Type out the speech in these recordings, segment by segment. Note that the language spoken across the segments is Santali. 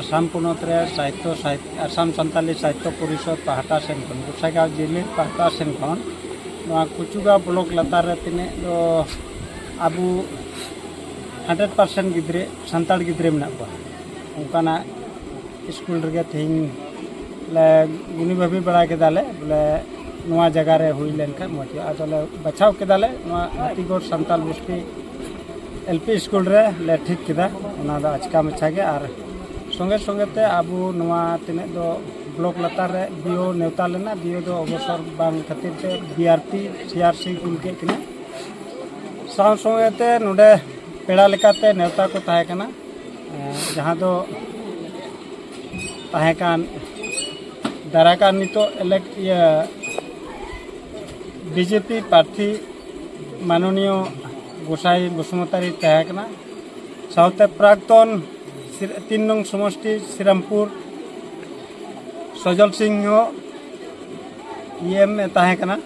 ᱟᱥᱟᱢ ᱯᱚᱱᱚᱛ ᱨᱮ ᱥᱟᱦᱤᱛᱛᱚ ᱟᱥᱟᱢ ᱥᱟᱱᱛᱟᱞᱤ ᱥᱟᱦᱤᱛᱛᱚ ᱯᱚᱨᱤᱥᱚᱫᱽ ᱯᱟᱦᱴᱟ ᱥᱮᱱ ᱠᱷᱚᱱ ᱜᱚᱥᱟᱭᱜᱟᱶ ᱡᱩᱢᱤᱫ ᱯᱟᱦᱴᱟ ᱥᱮᱱ ᱠᱷᱚᱱ ᱱᱚᱣᱟ ᱠᱩᱪᱩᱜᱟᱶ ᱵᱞᱚᱠ ᱞᱟᱛᱟᱨ ᱨᱮ ᱛᱤᱱᱟᱹᱜ ᱫᱚ ᱟᱵᱚ ᱦᱟᱱᱰᱨᱮᱰ ᱯᱟᱨᱥᱮᱱᱴ ᱜᱤᱫᱽᱨᱟᱹ ᱥᱟᱱᱛᱟᱲ ᱜᱤᱫᱽᱨᱟᱹ ᱢᱮᱱᱟᱜ ᱠᱚᱣᱟ ᱚᱱᱠᱟᱱᱟᱜ ᱥᱠᱩᱞ ᱨᱮᱜᱮ ᱛᱮᱦᱮᱧ ᱞᱮ ᱜᱩᱱᱤ ᱵᱷᱟᱹᱵᱤ ᱵᱟᱲᱟ ᱠᱮᱫᱟᱞᱮ ᱵᱚᱞᱮ ᱱᱚᱣᱟ ᱡᱟᱭᱜᱟ ᱨᱮ ᱦᱩᱭ ᱞᱮᱱᱠᱷᱟᱱ ᱢᱚᱡᱽ ᱦᱩᱭᱩᱜᱼᱟ ᱟᱫᱚᱞᱮ ᱵᱟᱪᱷᱟᱣ ᱠᱮᱫᱟᱞᱮ ᱱᱚᱣᱟ ᱦᱟᱹᱛᱤᱜᱚᱲ ᱥᱟᱱᱛᱟᱲ ᱵᱚᱥᱛᱤ ᱮᱞ ᱯᱤ ᱥᱠᱩᱞ ᱨᱮ ᱞᱮ ᱴᱷᱤᱠ ᱠᱮᱫᱟ ᱚᱱᱟ ᱫᱚ ᱟᱪᱠᱟ ᱢᱟᱪᱷᱟ ᱜᱮ ᱟᱨ ᱥᱚᱸᱜᱮ ᱥᱚᱸᱜᱮ ᱛᱮ ᱟᱵᱚ ᱱᱚᱣᱟ ᱛᱤᱱᱟᱹᱜ ᱫᱚ ᱵᱞᱚᱠ ᱞᱟᱛᱟᱨ ᱨᱮ ᱵᱤᱭᱳ ᱱᱮᱣᱛᱟ ᱞᱮᱱᱟ ᱵᱤᱭᱳ ᱫᱚ ᱚᱵᱚᱥᱚᱨ ᱵᱟᱝ ᱠᱷᱟᱹᱛᱤᱨ ᱛᱮ ᱵᱤ ᱟᱨ ᱯᱤ ᱥᱤ ᱟᱨ ᱥᱤ ᱠᱩᱞ ᱠᱮᱫ ᱠᱤᱱᱟ ᱥᱟᱶ ᱥᱚᱸᱜᱮ ᱛᱮ ᱱᱚᱰᱮ ᱯᱮᱲᱟ ᱞᱮᱠᱟᱛᱮ ᱱᱮᱣᱛᱟ ᱠᱚ ᱛᱟᱦᱮᱸ ᱠᱟᱱᱟ ᱡᱟᱦᱟᱸ ᱫᱚ ᱛᱟᱦᱮᱸ ᱠᱟᱱ ᱫᱟᱨᱟᱭ ᱠᱟᱱ ᱱᱤᱛᱚᱜ ᱤᱞᱮᱠᱴ ᱤᱭᱟᱹ ᱵᱤᱡᱮᱯᱤ ᱯᱨᱟᱨᱛᱷᱤ ᱢᱟᱱᱚᱱᱤᱭᱚ ᱜᱚᱥᱟᱭ ᱵᱚᱥᱩᱢᱚᱛᱟᱨᱤ ᱛᱟᱦᱮᱸ ᱠᱟᱱᱟ ᱥᱟᱶᱛᱮ ᱯᱨᱟᱠᱛᱚᱱ ᱛᱤᱱ ᱱᱚᱝ ᱥᱚᱢᱚᱥᱴᱤ ᱥᱨᱤᱨᱟᱢᱯᱩᱨ ᱥᱚᱡᱚᱞ ᱥᱤᱝ ᱦᱚᱸ ᱤᱭᱮᱢ ᱮ ᱛᱟᱦᱮᱸ ᱠᱟᱱᱟ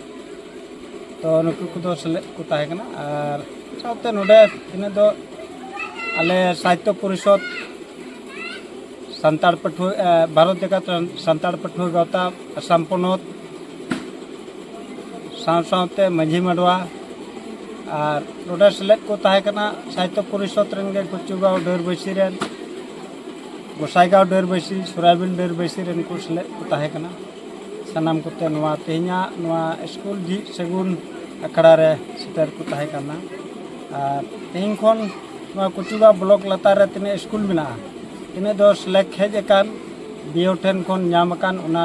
ᱛᱚ ᱱᱩᱠᱩ ᱠᱚᱫᱚ ᱥᱮᱞᱮᱫ ᱠᱚ ᱛᱟᱦᱮᱸ ᱠᱟᱱᱟ ᱟᱨ ᱥᱟᱶᱛᱮ ᱱᱚᱰᱮ ᱛᱤᱱᱟᱹᱜ ᱫᱚ ᱟᱞᱮ ᱥᱟᱦᱤᱛᱛᱚ ᱯᱚᱨᱤᱥᱚᱫᱽ ᱥᱟᱱᱛᱟᱲ ᱯᱟᱹᱴᱷᱩᱣᱟᱹ ᱵᱷᱟᱨᱚᱛ ᱡᱟᱠᱟᱛ ᱥᱟᱱᱛᱟᱲ ᱯᱟᱹᱴᱷᱩᱣᱟᱹ ᱜᱟᱶᱛᱟ ᱟᱥᱟᱢ ᱯᱚᱱᱚᱛ ᱥᱟᱶ ᱥᱟᱶᱛᱮ ᱢᱟᱹᱡᱷᱤ ᱢᱟᱰᱣᱟ ᱟᱨ ᱱᱚᱰᱮ ᱥᱮᱞᱮᱫ ᱠᱚ ᱛᱟᱦᱮᱸ ᱠᱟᱱᱟ ᱥᱟᱦᱤᱛᱛᱚ ᱯᱚᱨᱤᱥᱚᱫᱽ ᱨᱮᱱ ᱜᱮ ᱠᱩᱪᱩᱜᱟᱸᱣ ᱰᱟᱹᱨᱵᱟᱹᱥᱤ ᱨᱮᱱ ᱜᱚᱥᱟᱭᱜᱟᱸᱣ ᱰᱟᱹᱨᱵᱟᱹᱥᱤ ᱥᱚᱨᱟᱭᱵᱤᱞ ᱰᱟᱹᱨᱵᱟᱹᱥᱤ ᱨᱮᱱ ᱠᱚ ᱥᱮᱞᱮᱫ ᱠᱚ ᱛᱟᱦᱮᱸ ᱠᱟᱱᱟ ᱥᱟᱱᱟᱢ ᱠᱚᱛᱮ ᱱᱚᱣᱟ ᱛᱮᱦᱮᱧᱟᱜ ᱱᱚᱣᱟ ᱥᱠᱩᱞ ᱡᱷᱤᱡ ᱥᱟᱹᱜᱩᱱ ᱟᱠᱷᱲᱟ ᱨᱮ ᱥᱮᱴᱮᱨ ᱠᱚ ᱛᱟᱦᱮᱸ ᱠᱟᱱᱟ ᱟᱨ ᱛᱮᱦᱮᱧ ᱠᱷᱚᱱ ᱱᱚᱣᱟ ᱠᱩᱪᱩᱜᱟᱸᱣ ᱵᱞᱚᱠ ᱞᱟᱛᱟᱨ ᱨᱮ ᱛᱤᱱᱟᱹᱜ ᱥᱠᱩᱞ ᱢᱮᱱᱟᱜᱼᱟ ᱛᱤᱱᱟᱹᱜ ᱫᱚ ᱥᱮᱞᱮᱠᱴ ᱦᱮᱡ ᱟᱠᱟᱱ ᱵᱤᱭᱳ ᱴᱷᱮᱱ ᱠᱷᱚᱱ ᱧᱟᱢ ᱟᱠᱟᱱ ᱚᱱᱟ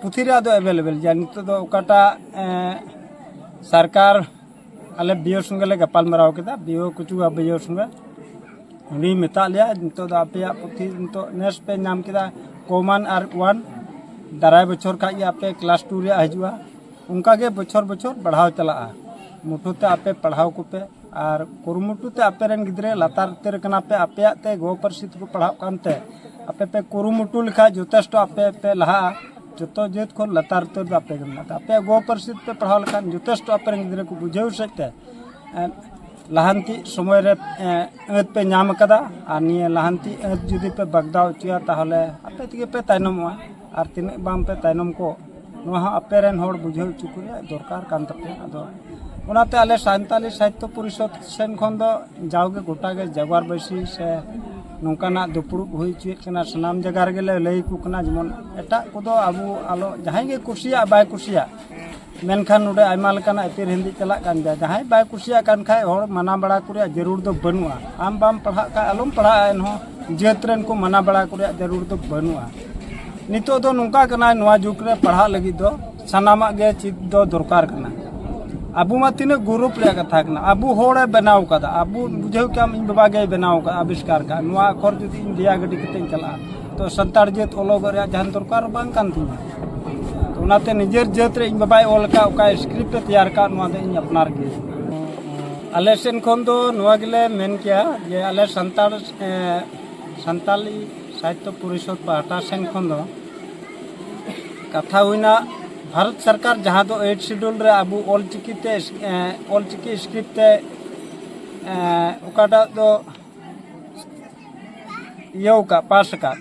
ᱯᱩᱛᱷᱤ ᱨᱮᱭᱟᱜ ᱫᱚ ᱮᱵᱮᱞᱮᱵᱮᱞ ᱜᱮᱭᱟ ᱱᱤᱛᱚᱜ ᱫᱚ ᱚᱠᱟᱴᱟᱜ ᱥᱚᱨᱠᱟᱨ ᱟᱞᱮ ᱵᱤᱭᱳ ᱥᱚᱸᱜᱮ ᱞᱮ ᱜᱟᱯᱟᱞ ᱢᱟᱨᱟᱣ ᱠᱮᱫᱟ ᱵᱤᱭᱳ ᱠᱩᱪᱩᱣᱟ ᱵᱤᱭᱳ ᱥᱚᱸᱜᱮ ᱩᱱᱤ ᱢᱮᱛᱟᱫ ᱞᱮᱭᱟ ᱱᱤᱛᱚᱜ ᱫᱚ ᱟᱯᱮᱭᱟᱜ ᱯᱩᱛᱷᱤ ᱱᱤᱛᱚᱜ ᱱᱮᱥ ᱯᱮ ᱧᱟᱢ ᱠᱮᱫᱟ ᱠᱚᱢᱟᱱ ᱟᱨ ᱳᱣᱟᱱ ᱫᱟᱨᱟᱭ ᱵᱚᱪᱷᱚᱨ ᱠᱷᱟᱡ ᱜᱮ ᱟᱯᱮ ᱠᱞᱟᱥ ᱴᱩ ᱨᱮᱭᱟᱜ ᱦᱤᱡᱩᱜᱼᱟ ᱚᱱᱠᱟᱜᱮ ᱵᱚᱪᱷᱚᱨ ᱵᱚᱪᱷᱚᱨ ᱵᱟᱲᱦᱟᱣ ᱪᱟᱞᱟᱜᱼᱟ ᱢᱩᱴᱷᱟᱹᱱ ᱛᱮ ᱟᱯᱮ ᱯᱟᱲᱦᱟᱣ ᱠᱚᱯᱮ ᱟᱨ ᱠᱩᱨᱩᱢᱩᱴᱩ ᱛᱮ ᱟᱯᱮ ᱨᱮᱱ ᱜᱤᱫᱽᱨᱟᱹ ᱞᱟᱛᱟᱨ ᱩᱛᱟᱹᱨ ᱠᱟᱱᱟ ᱯᱮ ᱟᱯᱮᱭᱟᱜ ᱛᱮ ᱜᱚ ᱯᱟᱹᱨᱥᱤ ᱛᱮᱠᱚ ᱯᱟᱲᱦᱟᱜ ᱠᱟᱱᱛᱮ ᱟᱯᱮ ᱯᱮ ᱠᱩᱨᱩᱢᱩᱴᱩ ᱞᱮᱠᱷᱟᱡ ᱡᱚᱛᱷᱮᱥᱴᱚ ᱟᱯᱮ ᱯᱮ ᱞᱟᱦᱟᱜᱼᱟ ᱡᱚᱛᱚ ᱡᱟᱹᱛ ᱠᱷᱚᱱ ᱞᱟᱛᱟᱨ ᱩᱛᱟᱹᱨ ᱫᱚ ᱟᱯᱮ ᱜᱮ ᱢᱮᱱᱟᱜ ᱯᱮᱭᱟ ᱟᱯᱮᱭᱟᱜ ᱜᱚ ᱯᱟᱹᱨᱥᱤ ᱛᱮᱯᱮ ᱯᱟᱲᱦᱟᱣ ᱞᱮᱠᱷᱟᱱ ᱡᱚᱛᱷᱮᱥᱴᱚ ᱟᱯᱮ ᱨᱮᱱ ᱜᱤᱫᱽᱨᱟᱹ ᱠᱚ ᱵᱩᱡᱷᱟᱹᱣ ᱥᱮᱫ ᱛᱮ ᱞᱟᱦᱟᱱᱛᱤ ᱥᱚᱢᱚᱭ ᱨᱮ ᱟᱹᱛ ᱯᱮ ᱧᱟᱢ ᱟᱠᱟᱫᱟ ᱟᱨ ᱱᱤᱭᱟᱹ ᱞᱟᱦᱟᱱᱛᱤ ᱟᱹᱛ ᱡᱩᱫᱤ ᱯᱮ ᱵᱟᱜᱽᱫᱟᱣ ᱦᱚᱪᱚᱭᱟ ᱛᱟᱦᱚᱞᱮ ᱟᱯᱮ ᱛᱮᱜᱮ ᱯᱮ ᱛᱟᱭᱱᱚᱢᱚᱜᱼᱟ ᱟᱨ ᱛᱤᱱᱟᱹᱜ ᱵᱟᱝ ᱯᱮ ᱛᱟᱭᱱᱚᱢ ᱠᱚᱜ ᱱᱚᱣᱟ ᱦᱚᱸ ᱟᱯᱮ ᱨᱮᱱ ᱦᱚᱲ ᱵᱩᱡᱷᱟᱹᱣ ᱦᱚᱪᱚ ᱠᱚ ᱨᱮᱭᱟᱜ ᱫᱚᱨᱠᱟᱨ ᱠᱟᱱ ᱛᱟᱯᱮᱭᱟ ᱟᱫᱚ ᱚᱱᱟᱛᱮ ᱟᱞᱮ ᱥᱟᱱᱛᱟᱞᱤ ᱥᱟᱦᱤᱛᱛᱚ ᱯᱚᱨᱤᱥᱚᱫᱽ ᱥᱮᱱ ᱠᱷᱚᱱ ᱫᱚ ᱡᱟᱣᱜᱮ ᱜᱚᱴᱟ ᱜᱮ ᱡᱟᱜᱽᱣᱟᱨ ᱵᱟᱹᱭᱥᱤ ᱥᱮ ᱱᱚᱝᱠᱟᱱᱟᱜ ᱫᱩᱯᱲᱩᱵ ᱦᱩᱭ ᱦᱚᱪᱚᱭᱮᱫ ᱠᱟᱱᱟ ᱥᱟᱱᱟᱢ ᱡᱟᱭᱜᱟ ᱨᱮᱜᱮ ᱞᱮ ᱞᱟᱹᱭ ᱟᱠᱚ ᱠᱟᱱᱟ ᱡᱮᱢᱚᱱ ᱮᱴᱟᱜ ᱠᱚᱫᱚ ᱟᱵᱚ ᱟᱞᱚ ᱡᱟᱦᱟᱸᱭ ᱜᱮ ᱠᱩᱥᱤᱭᱟᱜ ᱵᱟᱭ ᱠᱩᱥᱤᱭᱟᱜ ᱢᱮᱱᱠᱷᱟᱱ ᱱᱚᱰᱮ ᱟᱭᱢᱟ ᱞᱮᱠᱟᱱᱟᱜ ᱮᱯᱮᱨ ᱦᱮᱸᱰᱮᱡ ᱪᱟᱞᱟᱜ ᱠᱟᱱ ᱜᱮᱭᱟ ᱡᱟᱦᱟᱸᱭ ᱵᱟᱭ ᱠᱩᱥᱤᱭᱟᱜ ᱠᱟᱱ ᱠᱷᱟᱱ ᱦᱚᱲ ᱢᱟᱱᱟ ᱵᱟᱲᱟ ᱠᱚ ᱨᱮᱭᱟᱜ ᱡᱟᱹᱨᱩᱲ ᱫᱚ ᱵᱟᱹᱱᱩᱜᱼᱟ ᱟᱢ ᱵᱟᱢ ᱯᱟᱲᱦᱟᱜ ᱠᱷᱟᱱ ᱟᱞᱚᱢ ᱯᱟᱲᱦᱟᱜᱼᱟ ᱮᱱᱦᱚᱸ ᱡᱟᱹᱛ ᱨᱮᱱ ᱠᱚ ᱢᱟᱱᱟ ᱵᱟᱲᱟ ᱠᱚ ᱨᱮᱭᱟᱜ ᱡᱟᱹᱨᱩᱲ ᱫᱚ ᱵᱟᱹᱱᱩᱜᱼᱟ ᱱᱤᱛᱚᱜ ᱫᱚ ᱱᱚᱝᱠᱟ ᱠᱟᱱᱟ ᱱᱚᱣᱟ ᱡᱩᱜᱽ ᱨᱮ ᱯᱟᱲᱦᱟᱜ ᱞᱟᱹᱜᱤᱫ ᱫᱚ ᱥᱟᱱᱟᱢᱟᱜ ᱜᱮ ᱪᱮᱫ ᱫᱚ ᱫᱚᱨᱠᱟᱨ ᱠᱟᱱᱟ ᱟᱵᱚ ᱢᱟ ᱛᱤᱱᱟᱹᱜ ᱜᱚᱨᱚᱵ ᱨᱮᱭᱟᱜ ᱠᱟᱛᱷᱟ ᱠᱟᱱᱟ ᱟᱵᱚ ᱦᱚᱲᱮ ᱵᱮᱱᱟᱣ ᱠᱟᱫᱟ ᱟᱵᱚ ᱵᱩᱡᱷᱟᱹᱣ ᱠᱟᱢ ᱤᱧ ᱵᱟᱵᱟ ᱜᱮᱭ ᱵᱮᱱᱟᱣ ᱠᱟᱫᱟ ᱟᱵᱤᱥᱠᱟᱨ ᱠᱟᱫ ᱱᱚᱣᱟ ᱟᱠᱷᱚᱨ ᱡᱩᱫᱤ ᱤᱧ ᱫᱮᱭᱟ ᱜᱟᱹᱰᱤ ᱠᱟᱛᱮᱧ ᱪᱟᱞᱟᱜᱼᱟ ᱛᱚ ᱥᱟᱱᱛᱟᱲ ᱡᱟᱹᱛ ᱚᱞᱚᱜ ᱨᱮᱭᱟᱜ ᱡᱟᱦᱟᱱ ᱫᱚᱨᱠᱟᱨ ᱵᱟᱝ ᱠᱟᱱ ᱛᱤᱧᱟ ᱚᱱᱟᱛᱮ ᱱᱤᱡᱮᱨ ᱡᱟᱹᱛ ᱨᱮ ᱤᱧ ᱵᱟᱵᱟᱭ ᱚᱞ ᱠᱟᱫ ᱚᱠᱟ ᱥᱠᱨᱤᱯᱴ ᱮ ᱛᱮᱭᱟᱨ ᱠᱟᱫ ᱱᱚᱣᱟ ᱫᱚ ᱤᱧ ᱟᱯᱱᱟᱨ ᱜᱮ ᱟᱞᱮ ᱥᱮᱱ ᱠᱷᱚᱱ ᱫᱚ ᱱᱚᱣᱟ ᱜᱮᱞᱮ ᱢᱮᱱ ᱠᱮᱭᱟ ᱡᱮ ᱟᱞᱮ ᱥᱟᱱᱛᱟᱲ ᱥᱟᱱᱛᱟᱞᱤ ᱥᱟᱦᱤᱛᱛᱚ ᱯᱚᱨᱤᱥᱚᱫᱽ ᱯᱟᱦᱴᱟ ᱥᱮᱱ ᱠᱷᱚᱱ ᱫᱚ ᱠᱟᱛᱷᱟ ᱦᱩᱭᱱᱟ ᱵᱷᱟᱨᱚᱛ ᱥᱚᱨᱠᱟᱨ ᱡᱟᱦᱟᱸ ᱫᱚ ᱮᱭᱤᱴ ᱥᱤᱰᱩᱞ ᱨᱮ ᱟᱵᱚ ᱚᱞᱪᱤᱠᱤ ᱛᱮ ᱚᱞᱪᱤᱠᱤ ᱥᱠᱨᱤᱯᱴ ᱛᱮ ᱚᱠᱟᱴᱟᱜ ᱫᱚ ᱤᱭᱟᱹ ᱠᱟᱜ ᱯᱟᱥ ᱠᱟᱜ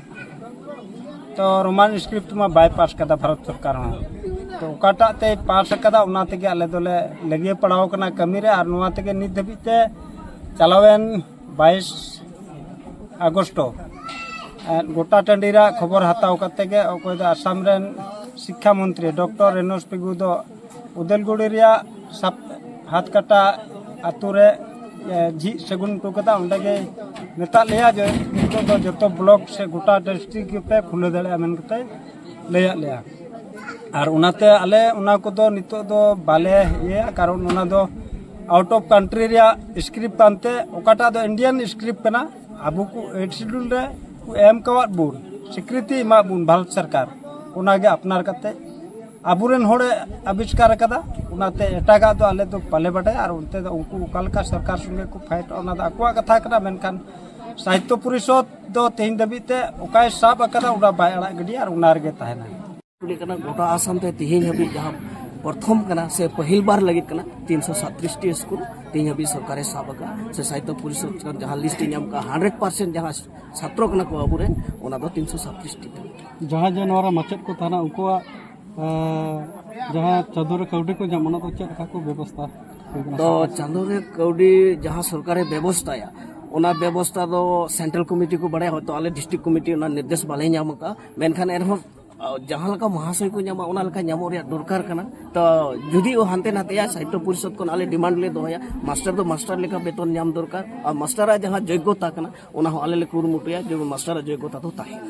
ᱛᱚ ᱨᱳᱢᱟᱱ ᱥᱠᱨᱤᱯᱴ ᱢᱟ ᱵᱟᱭ ᱯᱟᱥ ᱠᱟᱫᱟ ᱵᱷᱟᱨᱚᱛ ᱥᱚᱨᱠᱟᱨ ᱦᱚᱸ ᱛᱚ ᱚᱠᱟᱴᱟᱜ ᱛᱮᱭ ᱯᱟᱥ ᱠᱟᱫᱟ ᱚᱱᱟ ᱛᱮᱜᱮ ᱟᱞᱮ ᱫᱚᱞᱮ ᱞᱟᱹᱜᱤᱭᱟᱹ ᱯᱟᱲᱟᱣ ᱠᱟᱱᱟ ᱠᱟᱹᱢᱤ ᱨᱮ ᱟᱨ ᱱᱚᱣᱟ ᱛᱮᱜᱮ ᱱᱤᱛ ᱫᱷᱟᱹᱵᱤᱡ ᱛᱮ ᱪᱟᱞᱟᱣᱮᱱ ᱵᱟᱭᱤᱥ ᱟᱜᱚᱥᱴᱚ ᱜᱚᱴᱟ ᱴᱟᱺᱰᱤ ᱨᱮᱭᱟᱜ ᱠᱷᱚᱵᱚᱨ ᱦᱟᱛᱟᱣ ᱠᱟᱛᱮ ᱜᱮ ᱚᱠᱚᱭ ᱫᱚ ᱟᱥᱟᱢ ᱨᱮᱱ ᱥᱤᱠᱠᱷᱟ ᱢᱚᱱᱛᱨᱤ ᱰᱚᱠᱴᱚᱨ ᱨᱮᱱᱳᱥ ᱯᱮᱜᱩ ᱫᱚ ᱩᱫᱟᱹᱞᱜᱩᱲᱤ ᱨᱮᱭᱟᱜ ᱥᱟᱯ ᱦᱟᱛ ᱠᱟᱴᱟ ᱟᱛᱳ ᱨᱮ ᱮ, ᱡᱷᱤᱡ ᱥᱟᱹᱜᱩᱱ ᱦᱚᱴᱚ ᱠᱟᱫᱟ ᱚᱸᱰᱮ ᱜᱮ ᱢᱮᱛᱟᱫ ᱞᱮᱭᱟ ᱡᱮ ᱱᱤᱛᱚᱜ ᱫᱚ ᱡᱚᱛᱚ ᱵᱞᱚᱠ ᱥᱮ ᱜᱚᱴᱟ ᱰᱤᱥᱴᱨᱤᱠ ᱜᱮᱯᱮ ᱠᱷᱩᱞᱟᱹᱣ ᱫᱟᱲᱮᱭᱟᱜᱼᱟ ᱢᱮᱱ ᱠᱟᱛᱮ ᱞᱟᱹᱭᱟᱫ ᱞᱮᱭᱟ ᱟᱨ ᱚᱱᱟᱛᱮ ᱟᱞᱮ ᱚᱱᱟ ᱠᱚᱫᱚ ᱱᱤᱛᱚᱜ ᱫᱚ ᱵᱟᱞᱮ ᱤᱭᱟᱹᱭᱟ ᱠᱟᱨᱚᱱ ᱚᱱᱟ ᱫᱚ ᱟᱣᱩᱴ ᱚᱯᱷ ᱠᱟᱱᱴᱨᱤ ᱨᱮᱭᱟᱜ ᱥᱠᱨᱤᱯᱴ ᱠᱟᱱᱛᱮ ᱚᱠᱟᱴᱟᱜ ᱫᱚ ᱤᱱᱰᱤᱭᱟᱱ ᱥᱠᱨᱤᱯᱴ ᱠᱟᱱᱟ ᱟᱵᱚ ᱠᱚ ᱮᱭᱤᱴ ᱥᱤᱰᱩᱞ ᱨᱮ ᱠᱚ ᱮᱢ ᱠᱟᱣᱟᱫ ᱵᱚᱱ ᱥᱤᱠᱨᱤᱛᱤ ᱮᱢᱟᱫ ᱵᱚᱱ ᱵᱷᱟᱨᱚᱛ ᱥᱚᱨᱠᱟᱨ ᱚᱱᱟᱜᱮ ᱟᱯᱱᱟᱨ ᱠᱟᱛᱮ ᱟᱵᱚᱨᱮᱱ ᱦᱚᱲᱮ ᱟᱵᱤᱥᱠᱟᱨ ᱟᱠᱟᱫᱟ ᱚᱱᱟᱛᱮ ᱮᱴᱟᱜᱟᱜ ᱫᱚ ᱟᱞᱮ ᱫᱚ ᱵᱟᱞᱮ ᱵᱟᱰᱟᱭᱟ ᱟᱨ ᱚᱱᱛᱮ ᱫᱚ ᱩᱱᱠᱩ ᱚᱠᱟ ᱞᱮᱠᱟ ᱥᱚᱨᱠᱟᱨ ᱥᱚᱸᱜᱮ ᱠᱚ ᱯᱷᱟᱭᱤᱴᱚᱜᱼᱟ ᱚᱱᱟ ᱫᱚ ᱟᱠᱚᱣᱟᱜ ᱠᱟᱛᱷᱟ ᱠᱟᱱᱟ ᱢᱮᱱᱠᱷᱟᱱ ᱥᱟᱦᱤᱛᱛᱚ ᱯᱚᱨᱤᱥᱚᱫᱽ ᱫᱚ ᱛᱮᱦᱮᱧ ᱫᱷᱟᱹᱵᱤᱡ ᱛᱮ ᱚᱠᱟᱭ ᱥᱟᱵ ᱟᱠᱟᱫᱟ ᱚᱱᱟ ᱵᱟᱭ ᱟᱲᱟᱜ ᱜᱤᱰᱤᱭᱟ ᱟᱨ ᱚᱱᱟ ᱨᱮᱜᱮ ᱛᱟᱦᱮᱱᱟ ᱠᱩᱞᱤ ᱠᱟᱱᱟ ᱜᱚᱴᱟ ᱟᱥᱟᱢ ᱛᱮ ᱛᱮᱦᱮᱧ ᱦᱟᱹᱵᱤᱡ ᱡᱟᱦᱟᱸ ᱯᱨᱚᱛᱷᱚᱢ ᱠᱟᱱᱟ ᱥᱮ ᱯᱟᱹᱦᱤᱞ ᱵᱟᱨ ᱞᱟᱹᱜᱤᱫ ᱠᱟᱱᱟ ᱛᱤᱱ ᱥᱚ ᱥᱟᱛᱨᱤᱥ ᱴᱤ ᱥᱠᱩᱞ ᱛᱮᱦᱮᱧ ᱦᱟᱹᱵᱤᱡ ᱥᱚᱨᱠᱟᱨᱮ ᱥᱟᱵ ᱟᱠᱟᱫ ᱥᱮ ᱥᱟᱦᱤᱛᱛᱚ ᱯᱚᱨᱤᱥᱚᱫᱽ ᱡᱟᱦᱟᱸ ᱞᱤᱥᱴ ᱮ ᱧᱟᱢ ᱠᱟᱜᱼᱟ ᱦᱟᱱᱰᱨᱮᱰ ᱯᱟᱨᱥᱮᱱᱴ ᱡᱟᱦᱟᱸ ᱪᱷᱟᱛᱨᱚ ᱠᱟᱱᱟ ᱠᱚ ᱟᱵᱚᱨᱮᱱ ᱚᱱᱟ ᱫᱚ ᱛᱤᱱ ᱥᱚ ᱥᱟᱛᱨᱤᱥ ᱴᱤ ᱠᱟᱱᱟ ᱡᱟᱦᱟᱸᱭ ᱡᱮ ᱱᱚᱣᱟ ᱨᱮ ᱢᱟᱪᱮᱫ ᱠᱚ ᱛᱟᱦᱮᱱᱟ ᱩᱱᱠᱩᱣᱟᱜ ᱡᱟᱦᱟᱸ ᱪᱟᱸᱫᱳ ᱨᱮ ᱠᱟᱹᱣᱰᱤ ᱠᱚ ᱧᱟᱢ ᱚᱱᱟ ᱫᱚ ᱪᱮᱫ ᱞᱮᱠᱟ ᱠᱚ ᱵᱮᱵᱚᱥᱛᱷᱟ ᱛᱚ ᱪᱟᱸᱫᱳ ᱨᱮ ᱠᱟᱹᱣᱰᱤ ᱡᱟᱦᱟᱸ ᱥᱚᱨᱠᱟᱨᱮ ᱵᱮᱵᱚᱥᱛᱷᱟᱭᱟ ᱚᱱᱟ ᱵᱮᱵᱚᱥᱛᱷᱟ ᱫᱚ ᱥᱮᱱᱴᱨᱟᱞ ᱠᱚᱢᱤᱴᱤ ᱠᱚ ᱵᱟᱲᱟᱭᱟ ᱦᱚᱭᱛᱳ ᱟᱞᱮ ᱰᱤᱥᱴᱨᱤᱠᱴ ᱠᱚᱢᱤᱴᱤ ᱚᱱᱟ ᱱᱤᱨᱫᱮᱥ ᱵᱟᱞᱮ ᱧᱟᱢ ᱟᱠᱟᱫᱼᱟ ᱢᱮᱱᱠᱷᱟᱱ ᱮᱱᱦᱚᱸ ᱡᱟᱦᱟᱸ ᱞᱮᱠᱟ ᱢᱚᱦᱟᱥᱚᱭ ᱠᱚ ᱧᱟᱢᱟ ᱚᱱᱟ ᱞᱮᱠᱟ ᱧᱟᱢᱚᱜ ᱨᱮᱭᱟᱜ ᱫᱚᱨᱠᱟᱨ ᱠᱟᱱᱟ ᱛᱚ ᱡᱩᱫᱤ ᱚ ᱦᱟᱱᱛᱮ ᱱᱟᱛᱮᱭᱟ ᱥᱟᱦᱤᱛᱭᱚ ᱯᱚᱨᱤᱥᱚᱫ ᱠᱷᱚᱱ ᱟᱞᱮ ᱰᱤᱢᱟᱱᱰ ᱞᱮ ᱫᱚᱦᱚᱭᱟ ᱢᱟᱥᱴᱟᱨ ᱫᱚ ᱢᱟᱥᱴᱟᱨ ᱞᱮᱠᱟ ᱵᱮᱛᱚᱱ ᱧᱟᱢ ᱫᱚᱨᱠᱟᱨ ᱟᱨ ᱢᱟᱥᱴᱟᱨᱟᱜ ᱡᱟᱦᱟᱸ ᱡᱳᱜᱽᱜᱚᱛᱟ ᱠᱟᱱᱟ ᱚᱱᱟ ᱦᱚᱸ ᱟᱞᱮ ᱞᱮ ᱠᱩᱨᱩᱢᱩᱴᱩᱭᱟ ᱡᱮ ᱢᱟᱥᱴᱟᱨᱟᱜ ᱡᱳᱜᱽᱜᱚᱛᱟ ᱫᱚ ᱛᱟᱦᱮᱱᱟ